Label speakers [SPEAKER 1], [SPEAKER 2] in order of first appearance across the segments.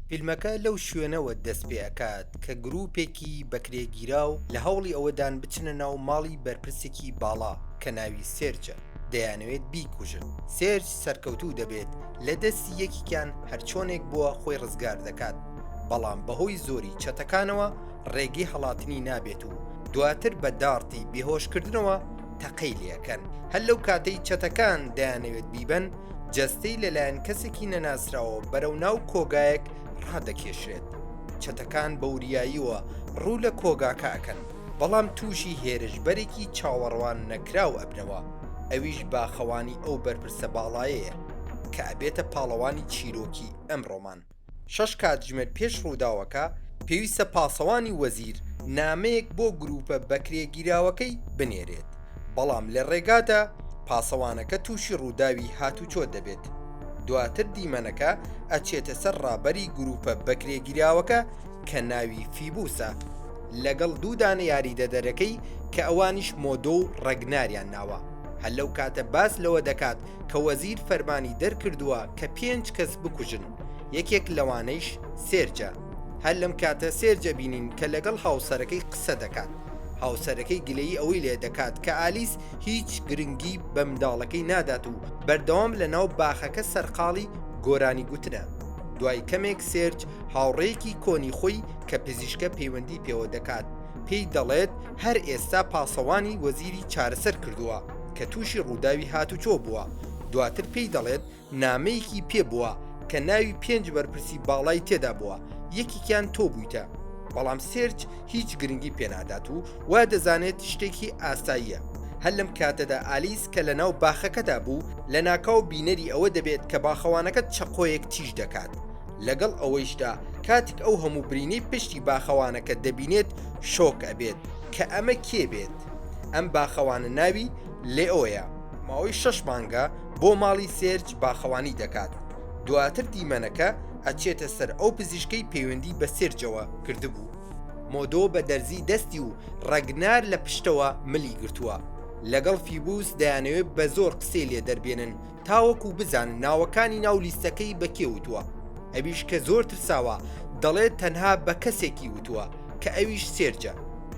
[SPEAKER 1] فیلمەکە لەو شوێنەوە دەست پێ ئەکات کە گروپێکی بەکرێگیراو لە هەوڵی ئەوەدان بچنە ناو ماڵی بەرپرسێکی باڵا کە ناوی سێرجە دەیانەوێت بیکوژن سێرج سەرکەوتوو دەبێت لە دەستی یەکیکیان هەرچۆنێک بووە خۆی ڕزگار دەکات بەڵام بەهۆی زۆری چەتەکانەوە ڕێگەی هەڵاتنی نابێت و دواتر بە داڕتی بێهۆشکردنەوە تەقەی لێ ئەکەن هەر لەو کاتەی چەتەکان دەیانەوێت بیبەن جەستەی لەلایەن کەسێکی نەناسراوە بەرەو ناو کۆگایەک ڕادەکێشرێت چەتەکان بەوریاییەوە ڕوو لە کۆگاکە ئەکەن بەڵام تووشی هێرشبەرێکی چاوەڕوان نەکراو ئەبنەوە ئەویش باخەوانی ئەو بەرپرسە باڵایەیە کە ئەبێتە پاڵەوانی چیرۆکی ئەمڕۆمان. شەش کاتژمێر پێش ڕووداوەکە، پێویستە پاسەوانی وەزیر نامەیەک بۆ گرووپە بەکرێگیراوەکەی بنێرێت، بەڵام لە ڕێگادا پاسەوانەکە تووشی ڕووداوی هاتوچۆ دەبێت، دواتر دیمەنەکە ئەچێتە سەر ڕابەری گرووپە بەکرێگیراوەکە کە ناوی فیبوسە، لەگەڵ دوو دانە یاریدەدەرەکەی کە ئەوانیش مۆدۆ و ڕەگناریان ناوە، هەر لەو کاتە باس لەوە دەکات کە وەزیر فەرمانی دەرکردووە کە پێنج کەس بکوژن یەکێک لەوانەیش سێرجە هەر لەم کاتە سێرجە بینین کە لەگەڵ هاوسەرەکەی قسە دەکات هاوسەرەکەی گلەی ئەوەی لێ دەکات کە ئالیس هیچ گرنگی بە منداڵەکەی نادات و بەردەوام لە ناو باخەکە سەرقاڵی گۆرانی گوتنە دوای کەمێک سێرج هاوڕێیەکی کۆنی خۆی کە پزیشکە پەیوەندی پێوە دەکات پێی دەڵێت هەر ئێستا پاسەوانی وەزیری چارەسەر کردووە کە تووشی ڕووداوی هاتوچۆ بووە، دواتر پێی دەڵێت نامەیەکی پێ بووە کە ناوی پێنج بەرپرسی باڵای تێدا بووە، یەکێکیان تۆ بوویتە، بەڵام سێرج هیچ گرنگی پێنادات و وادەزانێت شتێکی ئاساییە. هەر لەم کاتەدا ئالیس کە لەناو باخەکەدا بوو، لەناکاو بینەری ئەوە دەبێت کە باخەوانەکە چەقۆیەک تیژ دەکات، لەگەڵ ئەوەیشدا کاتیک ئەو هەموو برینەی پشتی باخەوانەکە دەبینێت شۆک ئەبێت کە ئەمە کێ بێت ئەم باخەوانە ناوی لێئۆیە. ماوەی شەش مانگە بۆ ماڵی سێرج باخەوانی دەکات دواتر دیمەنەکە ئەچێتە سەر ئەو پزیشکەی پەیوەندی بە سێرجەوە کردبوو، مۆدۆ بە دەرزی دەستی و ڕەگنار لە پشتەوە ملی گرتووە لەگەڵ فیبوس دەیانەوێت بە زۆر قسەی لێ دەربێنن، تاوەکو بزانن ناوەکانی ناو لیستەکەی بە کێ وتووە، ئەویش کە زۆر ترساوە دەڵێت تەنها بە کەسێکی وتووە کە ئەویش سێرجە.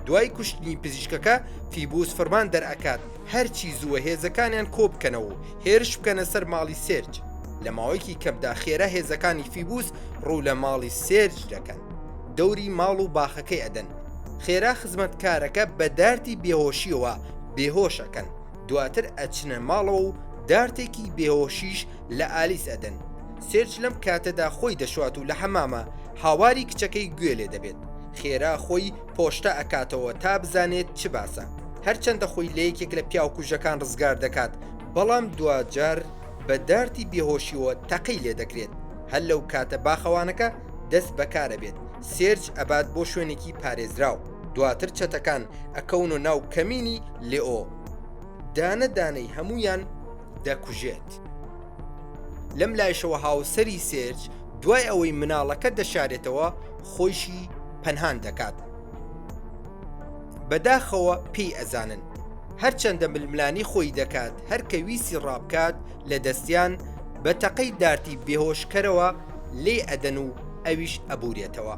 [SPEAKER 1] دوای کوشتنی پزیشکەکە، فیبوس فەرمان دەرئەکات هەرچی زووە هێزەکانیان کۆبکەنەوە و هێرش بکەنە سەر ماڵی سێرج. لە ماوەیەکی کەمدا خێرا هێزەکانی فیبوس ڕوو لە ماڵی سێرج دەکەن. دەوری ماڵ و باخەکەی ئەدەن. خێرا خزمەتکارەکە بە دارتی بێهۆشییەوە بێهۆش ئەکەن. دواتر ئەچنە ماڵەوە و دارتێکی بێهۆشیش لە ئالیس ئەدەن، سێرج لەم کاتەدا خۆی دەشوات و لە حەمامە هاواری کچەکەی گوێ لێ دەبێت، خێرا خۆی پۆشتە ئەکاتەوە تا بزانێت چ باسە، هەرچەندە خۆی لە یەکێک لە پیاوکوژەکان ڕزگار دەکات، بەڵام دواجار بە دارتی بێهۆشیەوە تەقەی لێ دەکرێت، هەر لەو کاتە باخەوانەکە، دەست بەکار ئەبێت سێرچ ئەبات بۆ شوێنێکی پارێزراو دواتر چەتەکان ئەکەون و ناو کەمینی لێئۆ دانە دانەی هەمویان دەکوژێت لەم لایشەوە هاوسری سێرچ دوای ئەوەی مناڵەکە دەشارێتەوە خۆیشی پەنهان دەکات بەداخەوە پێی ئەزانن هەرچەندە ململانی خۆی دەکات هەرکە ویسی ڕابکات لە دەستیان بە تەقەی دارتی بێهۆشکەرەوە لێ ئەدەن و ئەویش ئەبورێتەوە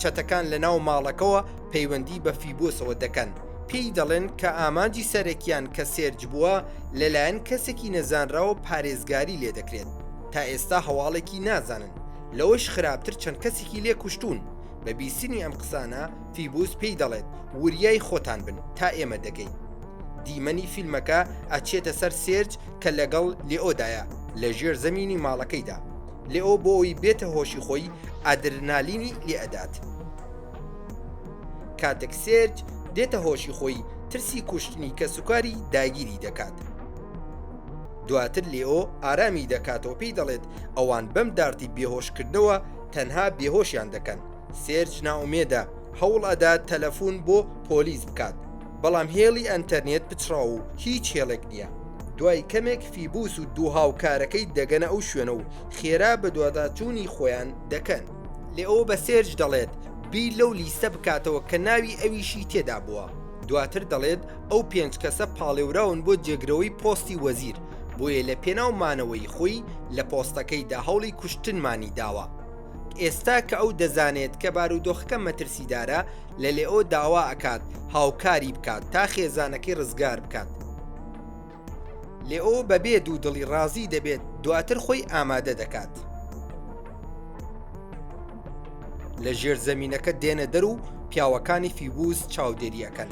[SPEAKER 1] چەتەکان لە ناو ماڵەکەەوە پەیوەندی بە فیبۆسەوە دەکەن پێی دەڵێن کە ئامانجی سەرەکیان کە سێرج بووە لەلایەن کەسێکی نەزانراوە پارێزگاری لێ دەکرێت تا ئێستا هەواڵێکی نازانن لەوەش خراپتر چەند کەسێکی لێ کوشتون بە بیستنی ئەم قسانە فیبوس پێی دەڵێت وریای خۆتان بن تا ئێمە دەگەین دیمەنی فیلمەکە ئەچێتە سەر سێرج کە لەگەڵ لێئۆدایە لە ژێر زەمینی ماڵەکەیدا، لێئۆ بۆ ئەوەی بێتە هۆشی خۆی ئادرنالینی لێ ئەدات. کاتێک سێرج دێتە هۆشی خۆی ترسی کوشتنی کەسوکاری داگیری دەکات. دواتر لێئۆ ئارامی دەکاتەوە پێی دەڵێت ئەوان بەم دارتی بێهۆشکردنەوە تەنها بێهۆشیان دەکەن، سێرج نائومێدە هەوڵ ئەدات تەلەفون بۆ پۆلیس بکات، بەڵام هێڵی ئەنتەرنێت پچڕاو و هیچ هێڵێک نییە. دوای کەمێک فیبوس و دوو هاوکارەکەی دەگەنە ئەو شوێنە و خێرا بەدواداچوونی خۆیان دەکەن. لێئۆ بە سێرج دەڵێت بیر لەو لیستە بکاتەوە کە ناوی ئەویشی تێدا بووە. دواتر دەڵێت ئەو پێنج کەسە پاڵێوراون بۆ جێگرەوەی پۆستی وەزیر، بۆیە لەپێناو مانەوەی خۆی لە پۆستەکەیدا هەوڵی کوشتنمانی داوە. ئێستا کە ئەو دەزانێت کە بارودۆخەکە مەترسیدارە، لە لێئۆ داوا ئەکات هاوکاری بکات تا خێزانەکەی ڕزگار بکات. لێئۆ بەبێ دوو دڵی ڕازی دەبێت دواتر خۆی ئامادە دەکات. لە ژێر زەمینەکە دێنە دەر و پیاوەکانی فیبوز چاودێری ئەەکەن.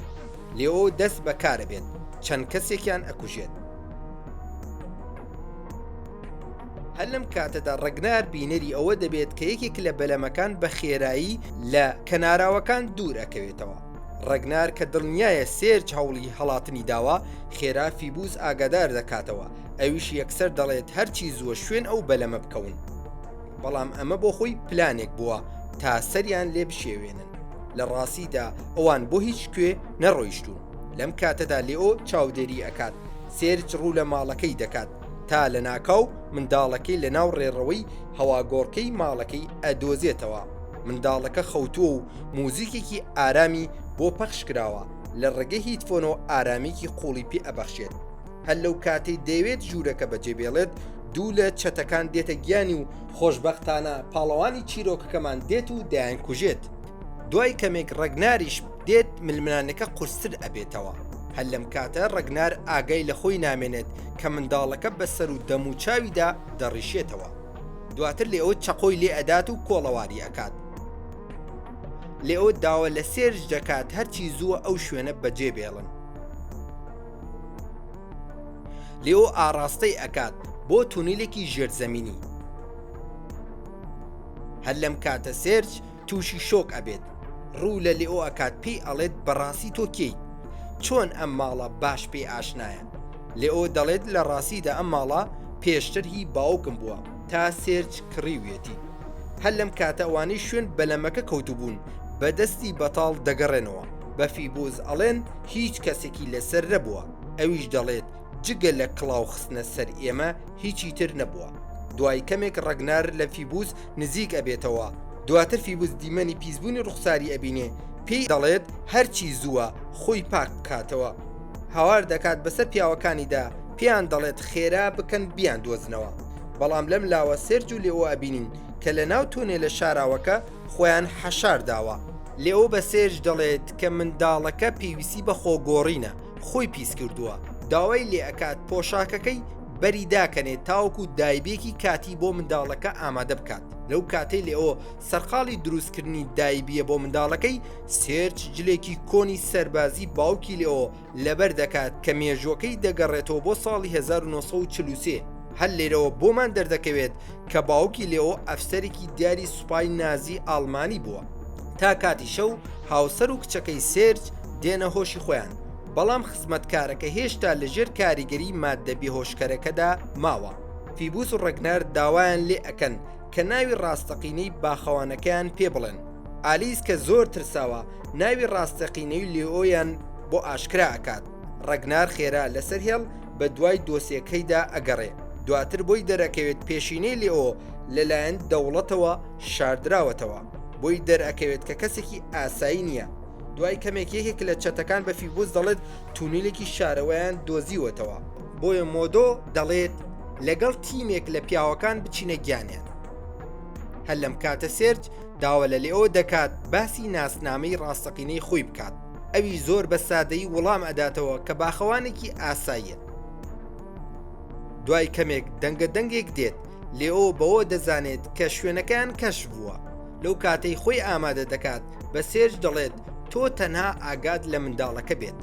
[SPEAKER 1] لێئۆ دەست بەکارە بێت چەند کەسێکیان ئەکوژێت. هەر لەم کاتەدا ڕگنار بینەری ئەوە دەبێت کە یەکێک لە بەلەمەکان بە خێرایی لە کەناراوەکان دوور ئەکەوێتەوە ڕگنار کە دڵنیایە سێرج هەوڵی هەڵاتنی داوە خێرا فیبوز ئاگادار دەکاتەوە ئەویش یەکسەر دەڵێت هەرچی زووە شوێن ئەو بەلەمە بکەون بەڵام ئەمە بۆ خۆی پلانێک بووە تا سەریان لێ بشێوێنن لە ڕاستیدا ئەوان بۆ هیچ کوێ نەڕۆیشتون لەم کاتەدا لێۆ چاودێری ئەکات سێرج ڕوو لە ماڵەکەی دەکات تا لەناکاو منداڵەکەی لەناو ڕێڕەوەی هەواگۆڕکێی ماڵەکەی ئەدۆزێتەوە، منداڵەکە خەوتووە و موزیکێکی ئارامی بۆ پەخش کراوە، لە ڕێگەی هیتفۆنەوە ئارامییەکی قوڵی پێ ئەبەخشێت، هەر لەو کاتەی دەیەوێت ژوورەکە بەجێ بێڵێت دوو لە چەتەکان دێتە گیانی و خۆشبەختانە پاڵەوانی چیرۆکەکەمان دێت و دەیانکوژێت. دوای کەمێک ڕەگناریش دێت ململانەکە قورستر ئەبێتەوە هەر لەم کاتە ڕەگنار ئاگای لە خۆی نامێنێت کە منداڵەکە بەسەر و دەم و چاویدا دەڕیشێتەوە دواتر لێ ئەو چەقۆی لێ ئەدات و کۆڵەواری ئەکات لێئەو داوە لە سێرج دەکات هەرچی زووە ئەو شوێنە بەجێ بێڵن لێو ئاراستەی ئەکات بۆ تونیلێکی ژێرزەمینی هەر لەم کاتە سێرج توشی شۆک ئەبێت ڕوو لە لئۆ ئەکات پێی ئەڵێت بەڕاستی تۆ کێیت چۆن ئەم ماڵە باش پێی ئاشنایە لئۆ دەڵێت لە ڕاستیدا ئەم ماڵە پێشتر هی باوکم بووە تا سێرج کڕیویەتی هەر لەم کاتە ئەوانەی شوێن بەلەمەکە کەوتبوون بە دەستی بەتاڵ دەگەڕێنەوە بە فیبوز ئەڵێن هیچ کەسێکی لەسەر نەبووە ئەویش دەڵێت جگە لە کڵاو خستنە سەر ئێمە هیچی تر نەبووە دوای کەمێک ڕەگنار لە فیبوز نزیک ئەبێتەوە دواتر فیبوز دیمەنی پیسبوونی ڕوخساری ئەبینێ پێی دەڵێت هەرچی زووە خۆی پاک بکاتەوە هاوار دەکات بەسەر پیاوەکانیدا پێیان دەڵێت خێرا بکەن بیان دۆزنەوە بەڵام لەم لاوە سێرج و لێ ئەو ئەبینین کە لە ناو تۆنێ لە شاراوەکە خۆیان حەشارداوە لێو بە سێرج دەڵێت کە منداڵەکە پێویستی بە خۆگۆڕینە خۆی پیس کردووە داوای لێ ئەکات پۆشاکەکەی بەری داکەنێت تاوەکو دایبێکی کاتی بۆ منداڵەکە ئامادە بکات لەو کاتەی لێەوە سەرقاڵی دروستکردنی دایبیە بۆ منداڵەکەی سێرچ جلێکی کۆنی سەربازی باوکی لێەوە لەبەر دەکات کە مێژوەکەی دەگەڕێتەوە بۆ ساڵی 1940 هەر لێرەوە بۆمان دەردەکەوێت کە باوکی لێەوە ئەفسەرێکی دیاری سوپای نازی ئاڵمانی بووە تا کاتی شەو هاوسەر و کچەکەی سێرچ دێنە هۆشی خۆیان بەڵام خزمەتکارەکە هێشتا لەژێر کاریگەری ماددە بێهۆشکەرەکەدا ماوە. فیبوس و ڕەگنەر داوایان لێ ئەکەن کە ناوی ڕاستەقینەی باخەوانەکەیان پێ بڵێن. ئالیس کە زۆر ترساوە ناوی ڕاستەقینەی لیۆیان بۆ ئاشکرا ئەکات. ڕەگنار خێرا لەسەر هێڵ بە دوای دۆسیەکەیدا ئەگەڕێ. دواتر بۆی دەرەکەوێت پێشینەی لیۆ لەلایەن دەوڵەتەوە شاردراوەتەوە. بۆی دەرئەکەوێت کە کەسێکی ئاسایی نییە. دوای کەمێک یەکێک لە چەتەکان بە فیبوس دەڵێت تونیلێکی شارەوەیان دۆزیوەتەوە بۆیە مۆدۆ دەڵێت لەگەڵ تیمێک لە پیاوەکان بچینە گیانیان هەر لەم کاتە سێرج داوە لە لێەوە دەکات باسی ناسنامەی ڕاستەقینەی خۆی بکات ئەوی زۆر بە سادەی وڵام ئەداتەوە کە باخەوانێکی ئاساییە دوای کەمێک دەنگە دەنگێک دێت لێۆ بەوە دەزانێت کە شوێنەکەیان کەش بووە لەو کاتەی خۆی ئامادە دەکات بە سێرج دەڵێت تۆ تەنها ئاگات لە منداڵەکە بێت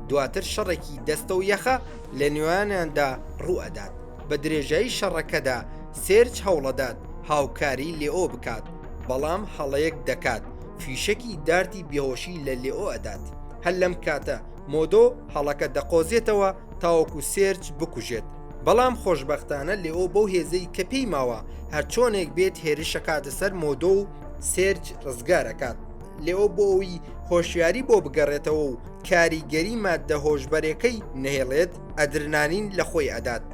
[SPEAKER 1] دواتر شەڕێکی دەستە و یەخە لە نوێیاندا ڕوئەدات بە درێژایی شەڕەکەدا سێرج هەوڵەدات هاوکاری لێئۆ بکات بەڵام هەڵەیەک دەکات فیشەکی دارتی بێهۆشی لە لێئۆ ئەدات هەر لەم کاتە مۆدۆ هەڵەکە دەقۆزێتەوە تاوەکو سێرج بکوژێت بەڵام خۆشببختانە لێئۆ بەو هێزەی کە پێی ماوە هەرچۆنێک بێت هێرشەکاتە سەر مۆدۆ و سێرج ڕزگار ئەکات لێوە بۆ ئەوی هۆشیاری بۆ بگەڕێتەوە و کاریگەری ماددە هۆشبەرەکەی نەهێڵێت ئەدرنانین لە خۆی ئەدات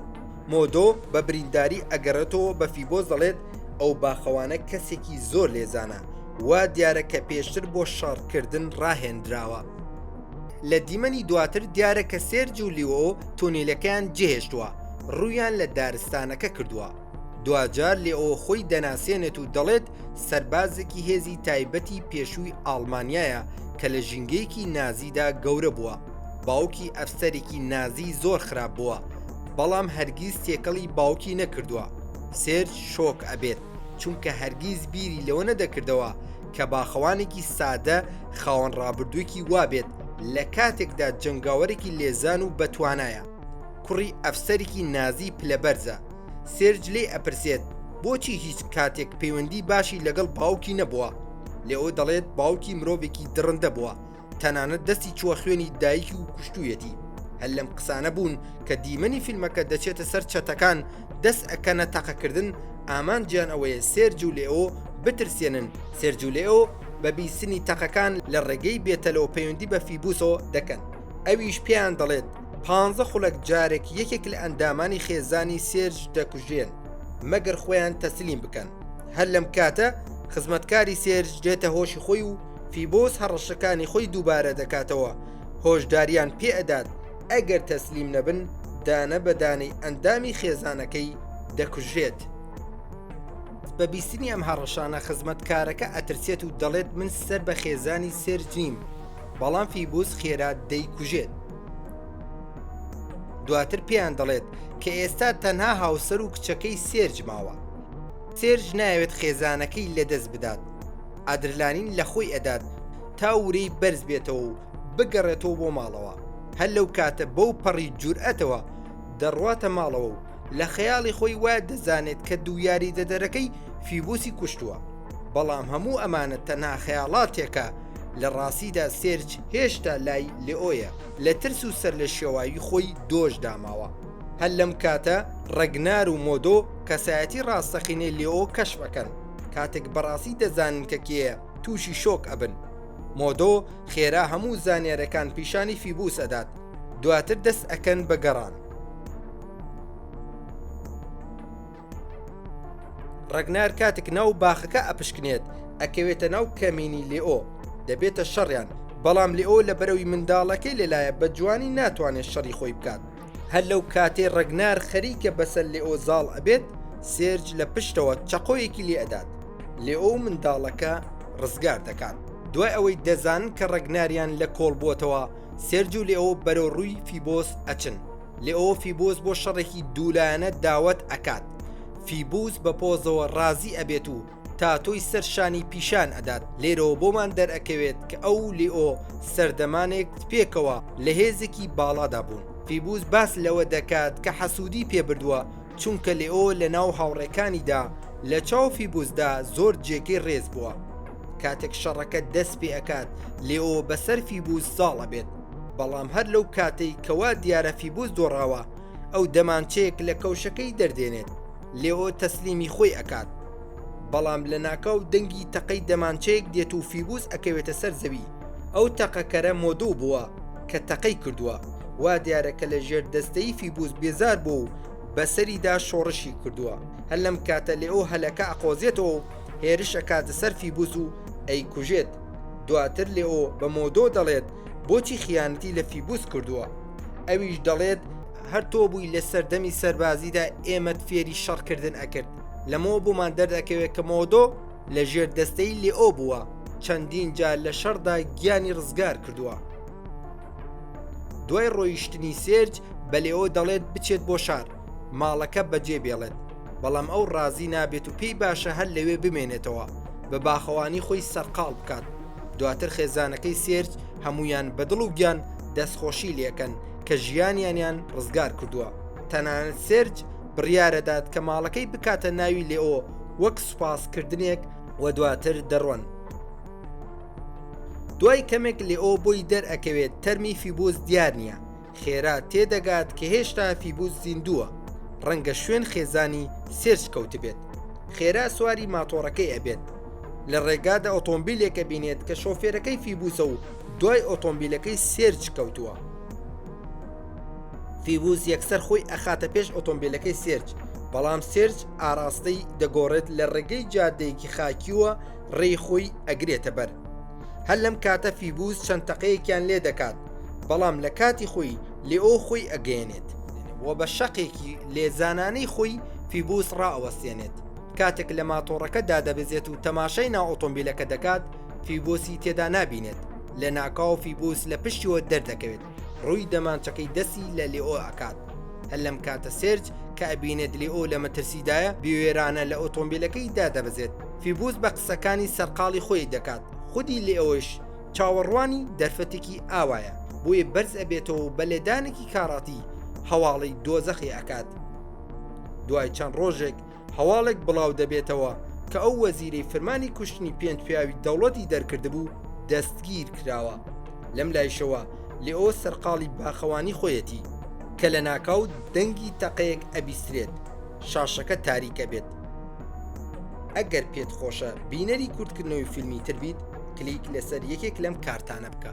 [SPEAKER 1] مۆدۆ بە برینداری ئەگەڕێتەوە بە فیبۆ دەڵێت ئەو باخەوانە کەسێکی زۆر لێزانە وا دیارە کە پێشتر بۆ شەڕکردن ڕاهێنراوە لە دیمەنی دواتر دیارە کە سێرج و لیۆ تونیلەکەیان جێهێشتووە ڕوویان لە دارستانەکە کردووە دواجار لێئۆ خۆی دەناسێنێت و دەڵێت سەربازێکی هێزی تایبەتی پێشووی ئاڵمانیایە کە لە ژینگەیەکی نازیدا گەورە بووە باوکی ئەفسەرێکی نازی زۆر خراپ بووە بەڵام هەرگیز تێکەڵی باوکی نەکردووە سێرج شۆک ئەبێت چونکە هەرگیز بیری لەوە نەدەکردەوە کە باخەوانێکی سادە خاوەن ڕابردووکی وابێت لە کاتێکدا جەنگاوەرێکی لێزان و بەتوانایە کوڕی ئەفسەرێکی نازی پلەبەرزە سێرج لێی ئەپرسێت بۆچی هیچ کاتێک پەیوەندی باشی لەگەڵ باوکی نەبووە لێ ئەو دەڵێت باوکی مرۆڤێکی دڕندە بووە تەنانەت دەستی چووە خوێنی دایکی و کوشتویەتی هەر لەم قسانە بوون کە دیمەنی فیلمەکە دەچێتە سەر چەتەکان دەست ئەکەنە تەقەکردن ئامانجیان ئەوەیە سێرج و لێ ئەو بترسێنن سێرجولێ ئەو بە بیستنی تەقەکان لە ڕێگەی بێتەلەوە پەیوەندی بە فیبوسەوە دەکەن ئەویش پێیان دەڵێت پانزە خولەک جارێک یەکێک لە ئەندامانی خێزانی سێرج دەکوژرێن مەگەر خۆیان تەسلیم بکەن هەر لەم کاتە خزمەتکاری سێرج دێتە هۆشی خۆی و فیبۆس هەڕەشەکانی خۆی دووبارە دەکاتەوە هۆشداریان پێ ئەدات ئەگەر تەسلیم نەبن دانە بەدانەی ئەندامی خێزانەکەی دەکوژێت. بە بیستنی ئەم هەڕەشانە خزمەتکارەکە ئەترسێت و دەڵێت من سەر بە خێزانی سێرجیم بەڵام فیبوس خێرا دەیکوژێت. دواتر پێیان دەڵێت کە ئێستا تەنها هاوسەر و کچەکەی سێرج ماوە. سێرج ناوێت خێزانەکەی لەدەست بدات. ئادرلانین لە خۆی ئەدات تا ورەی بەرز بێتەوە و بگەڕێتەوە بۆ ماڵەوە. هەر لەو کاتە بەو پەڕی جورئەتەوە دەڕواتە ماڵەوە و لە خەیاڵی خۆی وا دەزانێت کە دوو یاریدەدەرەکەی فیبوسی کوشتووە. بەڵام هەموو ئەمانە تەنها خەیاڵاتێکە، لە ڕاستیدا سێرج هێشتا لای لێئۆیە، لە ترس و سەرلێشێواوی خۆی دۆش داماوە. هەر لەم کاتە ڕەگنار و مۆدۆ کەسایەتی ڕاستەقینەی لێئۆ کەشف ئەکەن، کاتێک بەڕاستی دەزانن کە کێیە تووشی شۆک ئەبن. مۆدۆ خێرا هەموو زانیارەکان پیشانی فیبوس ئەدات، دواتر دەست ئەکەن بە گەڕان. ڕەگنار کاتێک ناو باخەکە ئەپشکنێت ئەکەوێتە ناو کەمینی لێئۆ دەبێتە شەڕیان بەڵام لێئۆ لە بەرەوی منداڵەکەی لەلایە بە جوانی ناتوانێت شەڕی خۆی بکات هەر لەو کاتێ ڕەگنار خەریکە بەسەر لێئۆ زاڵ ئەبێت سێرج لە پشتەوە چەقۆیەکی لێدات لێئۆ و منداڵەکە ڕزگار دەکات دوای ئەوەی دەزانن کە ڕەگناریان لە کۆڵ بووەتەوە سێرج و لێئۆ بەرەو ڕووی فیبۆس ئەچن لیۆ فیبوس بۆ شەڕێکی دوولایەنە داوەت ئەکات فیبوس بە پۆزەوە ڕازی ئەبێت و تاتۆی سەر شانی پیشان ئەدات لێرەوە بۆمان دەرئەکەوێت کە ئەو لیۆ سەردەمانێک پێکەوە لە هێزێکی باڵادا بوون فیبوس باس لەوە دەکات کە حەسوودی پێبردووە چونکە لێئۆ لە ناو هاوڕێکانیدا لە چاو فیبوسدا زۆر جێگەی ڕێز بووە. کاتێک شەڕەکە دەست پێ ئەکات لێئۆ بەسەر فیبوس زاڵ ئەبێت، بەڵام هەر لەو کاتەی کە وا دیارە فیبوس دۆڕاوە، ئەو دەمانچەیەک لە کەوشەکەی دەردێنێت، لێئۆ تەسلیمی خۆی ئەکات. بەڵام لەناکاو دەنگی تەقەی دەمانچەیەک دێت و فیبوس ئەکەوێتە سەر زەوی. ئەو تەقەکەرە مۆدوو بووە کە تەقەی کردووە، وا دیارە کە لە ژێر دەستەی فیبوس بێزار بووە و بە سەریدا شۆڕشی کردووە، هەر لەم کاتە لێئۆ هەلەکە ئەقۆزێتەوە و هێرش ئەکاتە سەر فیبوس و ئەیکوژێت، دواتر لێئۆ بە مۆدۆ دەڵێت بۆچی خیانەتی لە فیبوس کردووە، ئەویش دەڵێت، هەر تۆ بووی لە سەردەمی سەربازیدا ئێمەت فێری شەڕکردن ئەکرد، لەمەوە بۆمان دەردەکەوێت کە مۆدۆ لە ژێر دەستەی لێئۆ بووە چەندین جار لە شەڕدا گیانی ڕزگار کردووە دوای ڕۆیشتنی سێرج بە لێۆ دەڵێت بچێت بۆ شار ماڵەکە بەجێ بێڵێت بەڵام ئەو ڕازی نابێت و پێی باشە هەر لەوێ بمێنێتەوە بە باخەوانی خۆی سەرقاڵ بکات دواتر خێزانەکەی سێرج هەمویان بەدڵ و گیان دەستخۆشی لەکەن کە ژیانیانیان ڕزگار کردووە تەنانەت سێرج بڕیارەدات کە ماڵەکەی بکاتە ناوی لێئۆ وەک سوپاسکردنێک و دواتر دەڕۆن. دوای کەمێک لێئۆ بۆی دەرئەکەوێت تەرمی فیبوس دیار نییە خێرا تێدەگات کە هێشتا فیبوس زیندووە ڕەنگە شوێن خێزانی سێرچ کەوتبێت خێرا سواری ماتۆڕەکەی ئەبێت لە ڕێگادا ئۆتۆمبیلێکە بینێت کە شۆفێرەکەی فیبوسە و دوای ئۆتۆمبیلەکەی سێرچ کەوتووە فیوز یەکسەر خۆی ئەخاتە پێش ئۆتۆمبیلەکەی سێرج بەڵام سێرج ئاراستەی دەگۆڕێت لە ڕێگەی جادەیەکی خاکیوە ڕێی خۆی ئەگرێتە بەر هەر لەم کاتە فیبوز چەند تەقەیەکیان لێ دەکات بەڵام لە کاتی خۆی لێئۆ خۆی ئەگەێنێت و بە شەقێکی لێزانانەی خۆی فیبوس ڕاوەستێنێت کاتێک لە ماتۆڕەکە دادەبزێت و تەماشای ناو ئۆتۆمبیلەکە دەکات فیبۆسی تێدا نابینێت لە ناکاو فیبوس لە پشتیوە دەردەکەوێت ڕووی دەمانچەکەی دەستی لە لێئۆ ئەکات هەر لەم کاتە سێرج کە ئەبینێت لێئۆ لە مەترسیدایە بوێرانە لە ئۆتۆمبیلەکەی دادەبەزێت فیبوس بە قسەکانی سەرقاڵی خۆی دەکات خودی لێئۆش چاوەڕوانی دەرفەتێکی ئاوایە بۆیە بەرز ئەبێتەوە بە لێدانێکی کاڕاتی هەواڵی دۆزەخی ئەکات دوای چەند ڕۆژێک هەواڵێک بڵاو دەبێتەوە کە ئەو وەزیرەی فرمانی کوشتنی پێنج پیاوی دەوڵەتی دەرکردبوو دەستگیر کراوە لەم لایشەوە لێ ئەو سەرقاڵی باخەوانی خۆیەتی کە لە ناکاو دەنگی تەقەیەک ئەبیسترێت شاشەکە تاریکە بێت ئەگەر پێت خۆشە بینەری کورتکردنەوەی فیلمی تر بیت کلیک لەسەر یەکێک لەم کارتانە بکە